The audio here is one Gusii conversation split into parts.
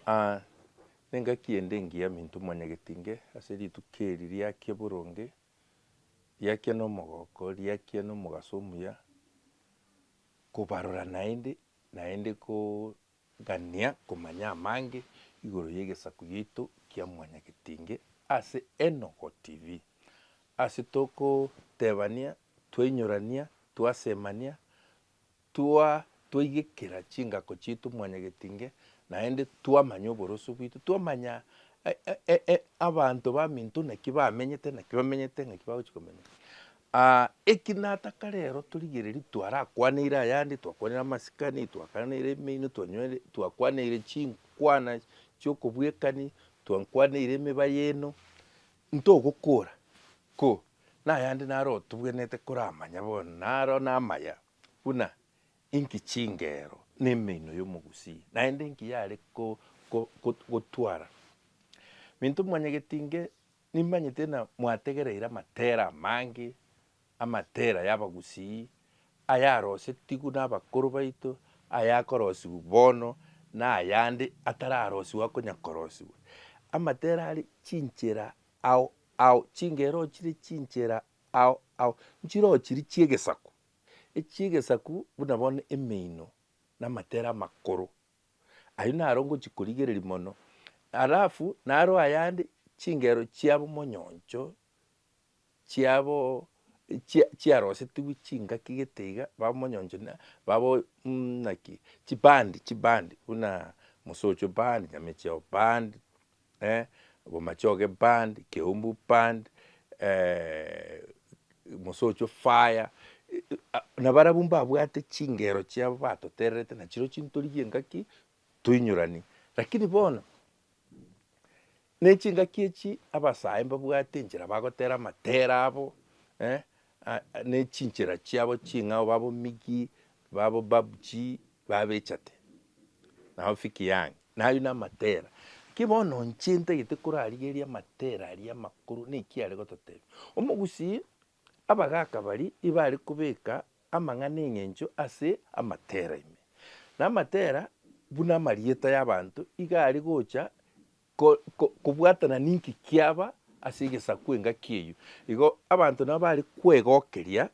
Aa, nengaki ende engiya minto mwanyagetinge ase rituko eri riakia boronge, riakia nomogoko, riakia nomogaso omuya, kobarora naende, naende kogania komanya amange igoro yegesaku giaito kia mwanyagetinge ase Enogo TV. Ase tokotebania, twainyorania, twasemania, Twa twaigekera chingako chiaito mwanyagetinge, naende twamanya oboroso bwaito, twamanya abanto baminto naki bamenyete, naki bamenyete, naki bagochi komenya. Eki nataka rero torigererie twarakwaneire ayande, twakwaneire amasikani, twakwaneire emeino, twanywere twakwaneire chinkwana chiokobwekani, twankwaneire emeba yaino, ntogokora ko na ayande naro otobwenete koramanya bono, na aro namaya, buna inki chingero na emeino y'omogusia, naende inki yare gotwara. Minto mwanyagete inge, nimanyete ng'a mwategereire amatera amange, amatera y'abagusii, ayarosetigwe nabakoro baito, ayakorosigwa bono, na ayande atararosigwa akonya korosigwa. Amatera are chinchera ao Ao chingero chire chinchera ao ao nchiroo chiri chi'egesaku, echi'egesaku buna bono emeino na amatere amakoro. Ayio naro ngochikorigereria mono, alafu naro ayande chingero chiabo monyoncho chiabo chia chiarosetigwe chingaki gete iga babo monyoncho na babo naki chibandi chibandi buna mosocho band, nyamecheo band, eh, Bomachoge band, Keumbu band, eh, Mosocho fire, ah, nabarabwo mbabwate chingero chiabo batotererete nachiro chintorigia engaki toinyorani. Lakini bono, nechingaki echi abasae mbabwate enchera bagotera amatera abo, eh, Aa ne chinchera chiabo ching'ao babo Migi, babo Babuji babechate, nabo Fiki Young nayio namatera. Ki bono inche ntagete korarigeria amatera aria amakoro naki are gototebia. Omogusii abagaka bari ibare kobeka amang'ana eng'encho ase amatera ime. Na amatera buna amarieta y'abanto iga are gocha Ko, ko, kobwatana ninki kiaba ase egesaku engaki eyio. Igo abanto nabo bare kwegokeria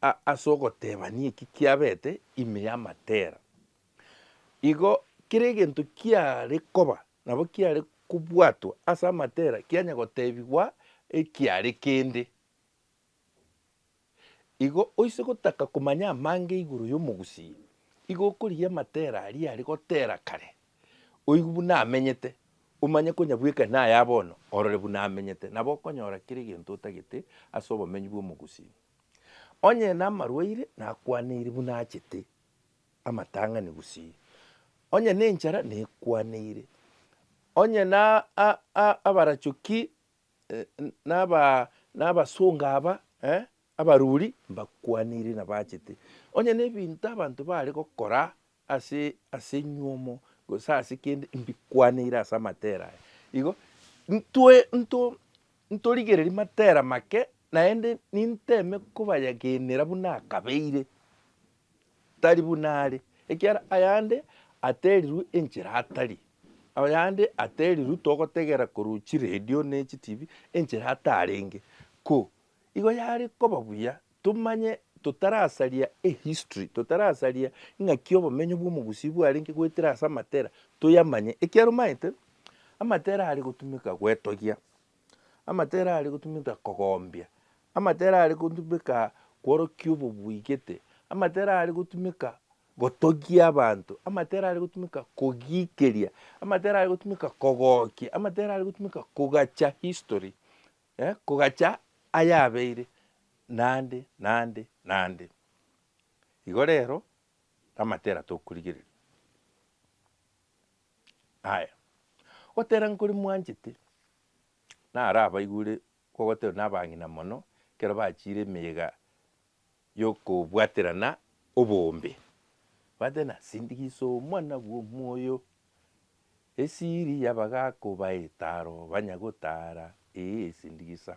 a, ase ogotebania eki kiabete ime y'amatera. Igo kera egento kiare koba nabo kiare kobwatwa ase amatera kianya gotebigwa ekiare kende. Igo oise gotaka komanya amange igoro y'omogusii, igo okorigia amatera aria are gotera kare, oigwe buna amenyete, omanye konya bweka naye aye bono orore buna amenyete, nabo okonyora kera egento otagete ase obomenyi bw'omogusii. Onye namarwaire nakwaneire buna achete amatang'ani gusii, onye nenchara nekwaneire, onye na abarachoki N'abasongo aba abaruri mbakwanire na baachete onye nebinto abanto baare gokora ase enyuomo gose ase kende mbikwanire ase amatera aya. Igo ntorigererie matera make naende ninteme kobayagenera buna akabeire. tari buna are, ekiagera ayande aterirwe enchera atari, ayande aterirwe togotegera korwa chiredio ne chitibi enchera atarenge. Ko igo yare koba buya tomanye totarasaria ehistory, totarasaria ng'aki obomenyo bw'omogusii bwarenge goetera ase amatera, toyamanye ekiaromaete amatera are gotumeka goetogia. Amatera are gotumeka kogombia, amatera are gotumeka kworokia obobui gete, amatera are gotumeka gotogia abanto, amatera are gotumeka kogiikeria, amatera are gotumeka kogookia, amatera are gotumeka kogacha history eh, kogacha ayabeire naende naende naende. Igo rero amatera tokorigereria. Aya, gotera nkori mwanchete, naro abaigure kogoterwa nabang'ina mono ekero bachiire emeyega yokobwaterana oboombe. Bwate na sindikisa omwana bw'omoyo, esiri y'abagaaka obae etaro banya gotaara, ee sindikisa.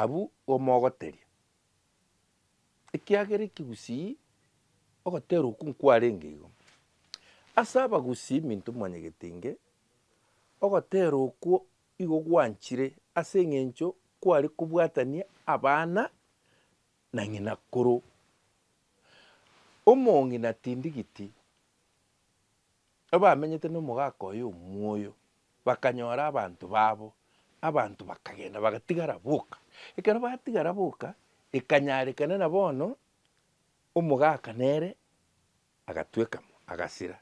Abwo omogoteria. ekiagera ekegusii ogotera okwo nkwarenge igo. Ase abagusii minto mwanyegete inge, ogotera okwo igo gwanchire ase eng'encho kware kobwatania abana na ng'ina koro. Omong'ina tindigiti, abamenyete nomogaka oye omuoyo. Bakanyora abanto babo, abanto bakagenda bagatigara boka. Ekero batigara boka, ekanyarekana na bono omogaka nere agatwekamo, agasira.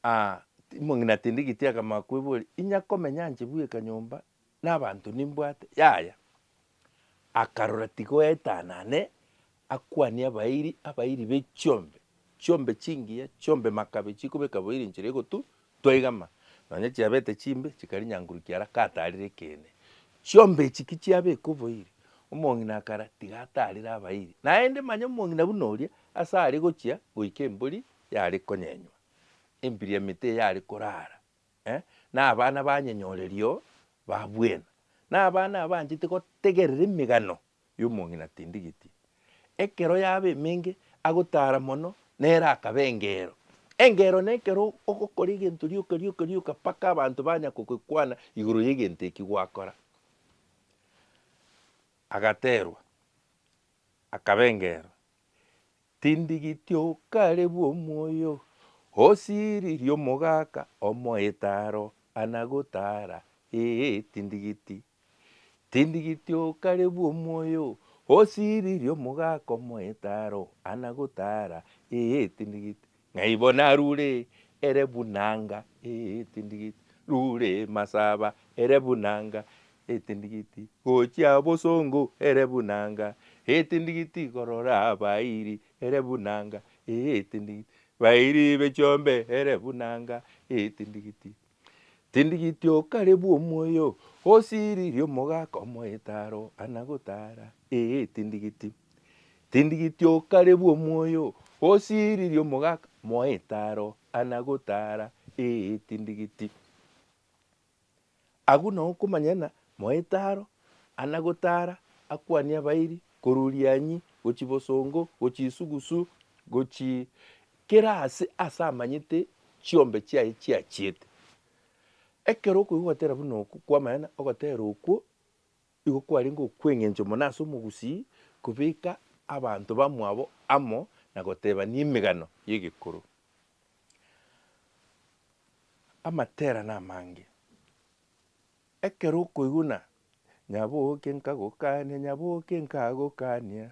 Aa omong'ina tindi giti akama koeboria, inya komenya nche bweka nyomba na abanto nimbwate? Yaya. akarora tigoetanane, akwanie abairi, abairi be chiombe, chiombe chingiya, chiombe makabe chikobeka boiri enchera egotu toigama, nonya chiabete chimbe chikari nyankuru kiara katarire ekeene. Chiombe echi ki chiabeka oboiri, omong'ina akara tiga atarire abairi, naende manya omong'ina buna oria ase are gochia goika embori yare konyenywa, embiria emete yare korara, nabana banyenyorerio ba bwena, nabana abanchete gotegerera emegano y'omong'ina tindigiti. Ekero yaba emenge agotara mono nere akaba engeero. Engeero nekero ogokora egento rioka rioka rioka mpaka abanto banya kogekwana igoro y'egento eki gwakora. Agaterwa. Akabengerwa, Tindigiti okare bw'omoyo osiririe omogaka omoete aro ana gotara, ee, tindigiti. Tindigiti okare bw'omoyo osiririe omogaka omoete aro ana gotara, ee, tindigiti. Ng'aibo narure ere buna nga etindigiti, rure masaba ere buna nga etindigiti, gochia bosongo ere buna nga etindigiti, korora abairi ere buna nga etindigiti, bairi b'echiombe ere buna nga etindigiti. Tindigiti okare bw'omoyo, osiririe omogaka omoete aro ana gotara, ee, tindigiti. Tindigiti okare bw'omoyo, osiririe omogaka moete aro ana gotara, ee, tindigiti. Agwo nao okomanya ng'a moete aro ana gotara akwanie abairi korwa rianyi gochia bosongo, gochia isugusu, gochia Kera aase aase amanyete chiombe chiaye chiachiete. Ekero okoigwa ogotera buna oko kw'amang'ana, ogotera okwo igo kwarenge okw'eng'encho mono ase omogusii kobeka abanto bamwabo amo na gotebania emegano y'egekoro. Amaterano amange. Ekero okoigwa ng'a nyaboke nkagokania, nyaboke nkagokania,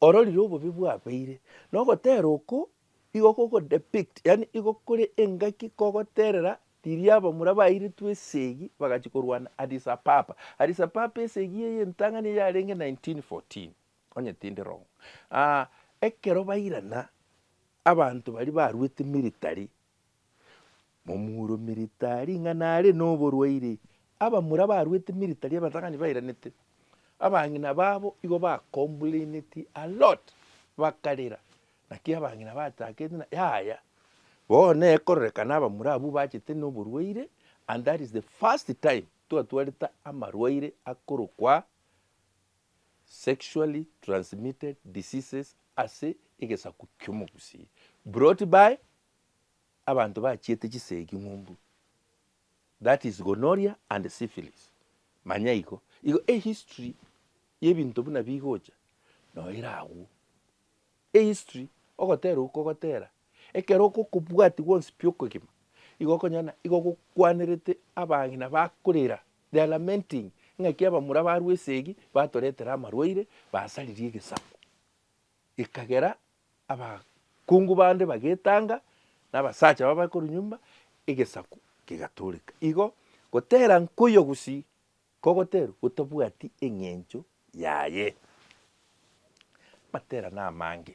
ororire obobe bwabeire, na ogotera oko igo koko depict, yaani igo kore engaki kogoterera riria abamura bairetwe esegi bagachia korwana Addis Apapa. Addis Apapa esegi eye entang'ani eye yarenge 1914 onye tindi wrong. Ekero bairana abanto baria baruete military Momure omiritari ng'a nare noborwaire. Abamura abarwete emiritari abatang'ani bairanete, abang'ina babo igo ba complainetie a lot, bakarera. Naki abang'ina bachakete na yaya, bono ekororekana abamura abwo bachete noborwaire and that is the first time twatwarete amarwaire akorokwa sexually transmitted diseases ase egesaku ki'omogusii brought by abanto bachiete chisegi ng'umbu, that is gonorrhea and syphilis, manya igo, igo ehistory yebinto buna bigocha noyo ere agwo, ehistory ogoterwa kogotera ekero okokobwati gwonsi pi okogima igo okonyora igo gokwanerete abagina bakorera they are lamenting ng'aki abamura barwa esegi batoretera amarwaire basaririe egesaku. Ekagera abakungu bande bagetanga, na abasacha babo bakorwa nyomba, egesaku kegatooreka. Igo goteera nkoyio gosii kogoteerwa gotabwati eng'encho yaye. Amateerane amange.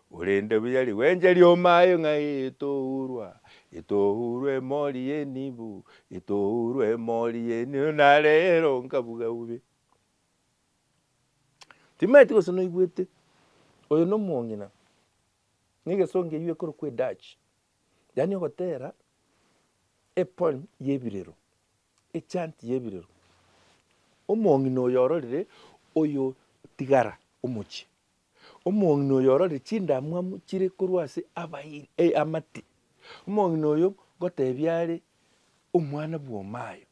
Korende buya rigwenje ri'omo aye ng'a etourwa, etourwa emori y'enibu, etourwa emori y'enibu, na rero nkabuga bobe. Timaeti gose noigwete, oyo nomong'ina, na egesongo eyio ekorokwa edutch, yaani ogotera epoem y'ebirero, echant y'ebirero. Omong'ina oyo ororire oyo tigara omochie. Omong'ina oyo orore chindamwamu chire korwa ase abairi, ee, amate. Omong'ina oyo ngoteebia are omwana bw'omayo,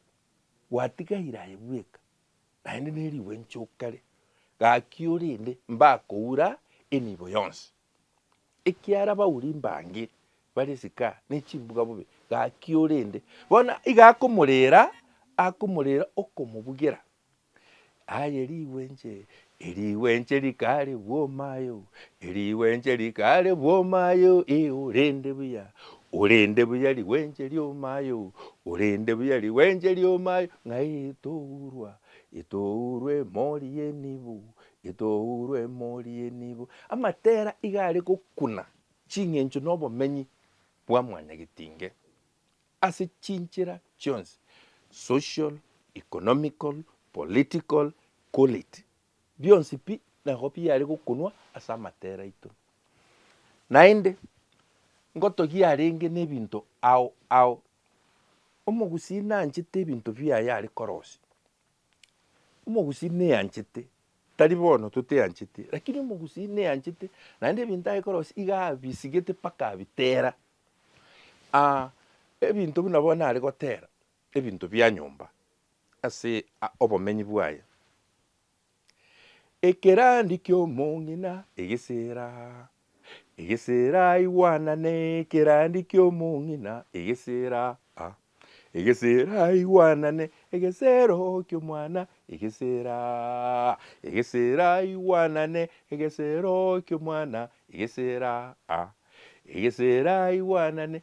gwatiga ira aye bweka, naende nerigwe nchokare, gaki orende mbakoura enibo yonsi. Ekiara abauri mbange bare esika nechimbuga bobe, gaki orende bono iga akomorera, akomorera okomobugera. Aye rigwenche, erigwenche rikare bwomayo, erigwenche rikare bwomayo ee orende buya, orende buya rigwenche riomayo, orende buya rigwenche riomayo ng'ai tourwa, etourwa emori y'enibo, etourwa emori y'enibo. Amatera iga are gokuna ching'encho na obomenyi bwa mwanyagetinge. Ase chinchera chionsi, social, economical, political, call it, bionsi pi nabo biare gokonwa ase amatera aito. Naende, ngotogia arenge nebinto ao ao. Omogusii nanchete ebinto biaye are korosia. Omogusii neanchete, tari bono toteancheti, rakini omogusii neanchete, naende ebinto agekorosia iga abisigete mpaka abitera. ebinto buna bono are gotera, ebinto bia nyomba ase obomenyi bwaye. Ekerandi kiomong'ina egesera. Egesera igwanane ekerandi ki'omong'ina, egesera, a, egesera igwanane egesero ki'omwana, egesera, a, egesera igwanane egesero ki'omwana, egesera, a, egesera igwanane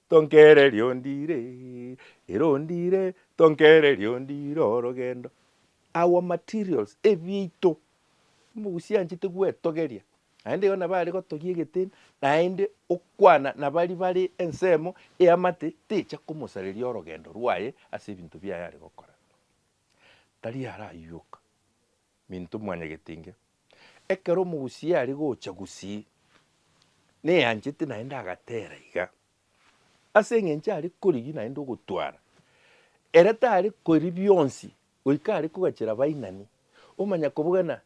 Tonkere riondire, erondire, tonkere riondire orogendo. Our materials, ebiaito, omogusi anchete gwetogeria, naende igo nabo are gotogia egeteni, naende okwana nabari bare ensemo eamate techa komosareria orogendo rwaye ase ebinto biaye are gokora. Tari araywoka. Minto mwanyagete inge. Ekero omogusii aria gocha gusii, neanchete naende agatera iga, ase eng'encho aria korigia naende ogotwara, ere tari koria bionsi goika aria kogachera bainani. Omanya kobogana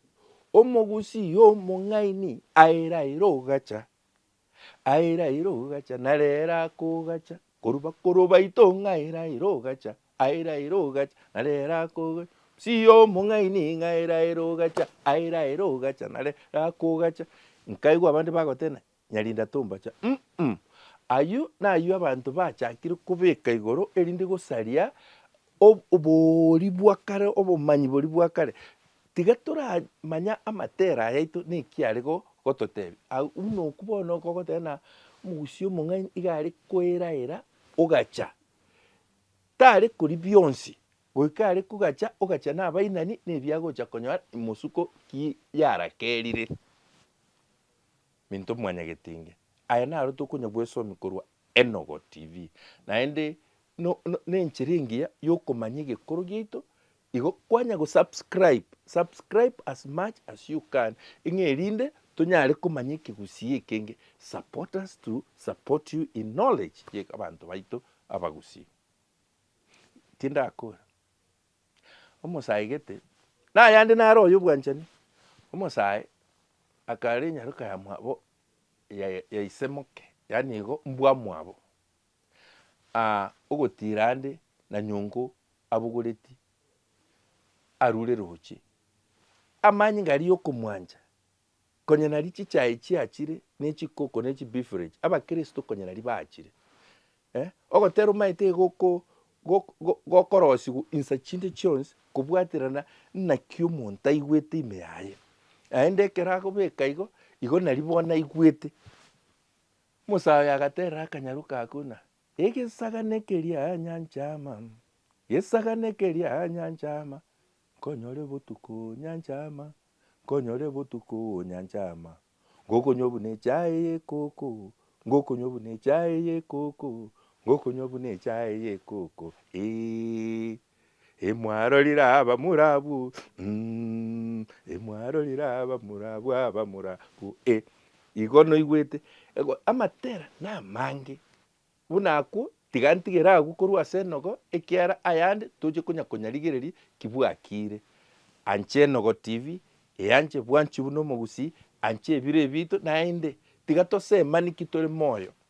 omogusii omong'aini aye raira ogacha. Aira aira ogacha, nare ere akogacha, korwa bakorwa baito ng'a aira aira ogacha, aira aira ogacha, nare ere akogacha, Msiya omong'aini ng'a aira aira ogacha, aira aira ogacha, nare ere akogacha. Nkaigwa abande bagotena, Nyarinda tombacha, mm ayio nayio abanto bachakire kobeka igoro erinde gosaria ob- oboori bwa kare, obomanyi boria bwa kare. Tiga toramanya amatera ayaito neki are gototebia. Agwo buna okwo bono okogoteba na omogusia omong'aini iga are koeraera ogacha, tare kori bionsi goika are kogacha ogacha na abainani na ebi agocha konyora imosuko ki yarakerire. Minto mwanyagetinge, aya naro tokonya bwesomia korwa Enogo TV, naende no no nenchera engiya yokomanya egekoro giaito Igo kwanya go subscribe, subscribe as much as you can ng'a erinde tonyare komanya ekegusii ekenge, support us to support you in knowledge ye abanto baito abagusii. Tindakora omosae gete, nayande naro oyo obwanchani, omosae akare enyaroka ya mwabo ya ya ise moke, yaani igo mbwa mwabo, Aa ogotiira ande na nyongo abogoreti arure roche. Amanyinga aria y'okomwancha, konya nari chichae chiachire, na echikoko, na echibeverage, abakristo konya nari baachire. Eh, ogotera omaete iga oko gok- go- gokorosigwa insa chinde chionsi kobwaterana naki omonto aigwete ime yaye. Naende ekero akobeka igo, igo nari bono aigwete. Musa oye agateera akanyaru ka Kuna, Egesagane keria nyancha ama, Gesagane keria nyancha ama, Nkonyore botuko nyancha ama, Nkonyore botuko nyancha ama, Ngokonywa buna echae y'ekoko, Ngokonywa buna echae y'ekoko, Ngokonywa buna echae y'ekoko, eeh. Imwarorire abamura abwo, mm, imwarorire abamura abwo, abamura abwo, eh, igo noigwete ego amatera namange buna akwo tiga ntigere agwo korwa ase enogo ekiara ayande toche konya konyarigereria ki bwakire. Anche enogo tv, eh anche bwanchi buna omogusii, anche ebiro ebito naende tiga tosemani ki tore moyo.